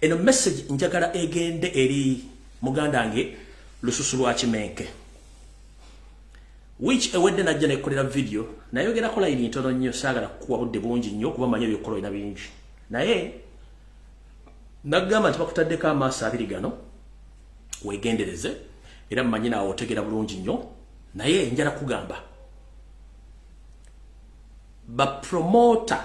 Eno message njagala egende eri muganda nge lususu lwa kimenke. Which ewedde najja nekolera video nayogera kola iri ntono nnyo saagala kuwa budde bungi nnyo kuba manya byokolo ina bingi. Naye nagamba nti bakutaddeko amaaso abiri gano wegendereze era mmanyi naawe otegera bulungi nnyo naye njala kugamba bapromota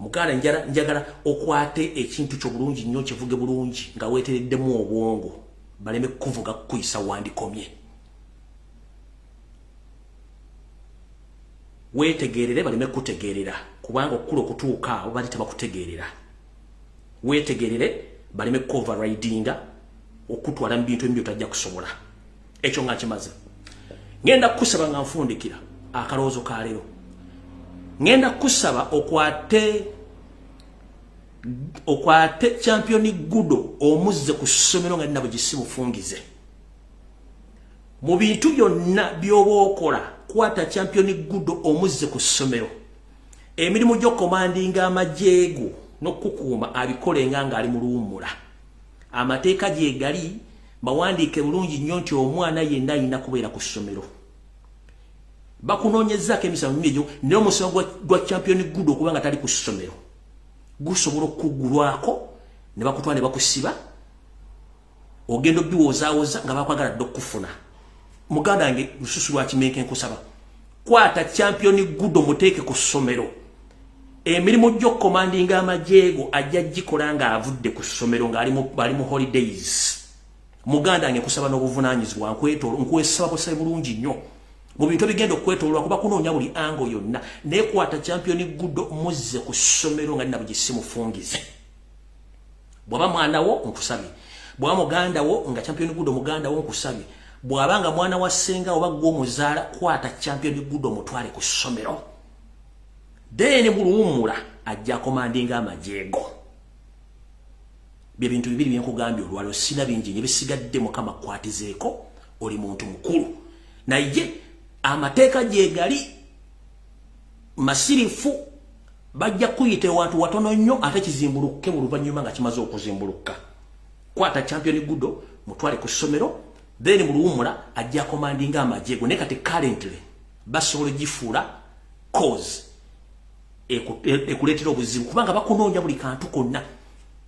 muganda njala njagala okwate ekintu kyo bulungi nnyo kivuge bulungi nga wetereddemu obwongo baleme kuvuga kukuyisa wandikomye wetegerere baleme kutegerera kubanga okukula okutuuka awo bali tebakutegerera wetegerere baleme kuoverridinga okutwala mu bintu ebimu byotajja kusobola ekyo nga kimaze ngenda kukusaba nga nfundikira akalowoozo ka leero ngenda kukusaba okwate okwate championi gudo omuzze ku ssomero nga nnabwe gisi bufungize mu bintu byonna by'oba okola kwata championi gudo omuzze ku ssomero emirimu gy'okomandinga amajeego n'okukuuma abikolenga ng'ali mu luwummula amateeka gyegali bawandiike bulungi nnyo nti omwana yenna alina kubeera ku ssomero bakunoonyezaako emisango mingi egyo naye omusango gwa champion good okuba nga tali ku ssomero gusobola okukugulwako ne bakutwala ne bakusiba ogenda obiwoozaawoza nga bakwagala dde okukufuna muganda wange lususu lwakimenke nkusaba kwata champion good omuteeke ku ssomero emirimu gy'okukomandinga amajeego ajja gikola ng'avudde ku ssomero ng'ali mu holidays muganda nge kusaba n'obuvunaanyizibwa nkwesaba busabe bulungi nnyo mu bintu ebigenda okwetololwa kuba kunoonya buli ango yonna naye kwata champion good muzze ku ssomero nga nina bugisimufungize bwaba mwana wo nkusabye bwaba muganda wo nga champion gudo muganda wo nkusabye bwaba nga mwana wa senga oba gwo muzala kwata champion gudo mutwale ku somero then bulumula ajja komandinga amajego bye bintu bibiri byenkugambye olwalo sina bingi nyo bisigadde mukama kwatizeeko oli muntu mukulu naye amateeka gyegali masirifu bajja kuyita ewantu watono nnyo ate kizimbulukuke mu luvannyuma nga kimaze okuzimbulukka kwata champion gudo mutwale ku ssomero then mu luwumula ajja komandinga amagye go ne kati currently basobola gifuula cause e, e, ekuleetera obuzibu kubanga bakunoonya buli kantu konna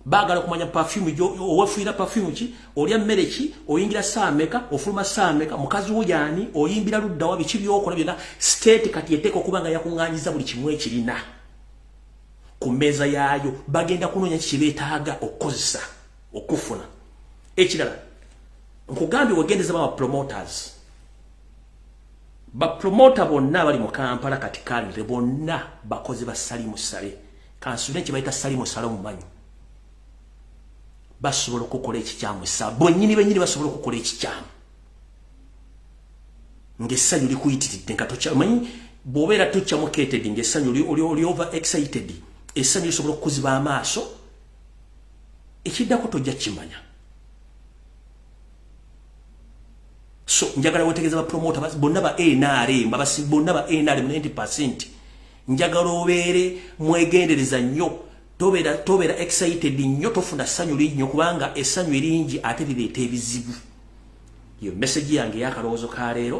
bagala kumanya perfume jo owafuira perfume ki olya mmere ki oyingira saa meka ofuluma saa meka mukazi wo yani oyimbira ludda wa biki byokola byona state kati eteko kuba nga yakunganyiza buli kimu ekirina ku meza yaayo bagenda kunonya kiki betaaga okukozesa okufuna ekirala nkugambye wagendeza ba promoters bapromota bonna abali mu kampala kati kalire bonna bakozi ba salimu sale kansule nti bayita salimu sale omumanyi basobola okukola ekikyamu sa bonyini benyini basobola okukola ekikyamu ngaessanyu likuyitiridde nga tokyamanyi bwobeera tokyamuketed ngaessanyu oli over excited essanyu lisobola okukuziba amaaso ekiddako tojja kimanya so njagala wetegeza ba promoter bas bonna ba NRM babasi bonna ba NRM 90% njagala obeere mwegendereza nnyo tobera tobera excited nnyo tofuna sanyu linnyo kubanga esanyu eringi ate lireeta ebizibu yo message yange yakalowoozo ka leero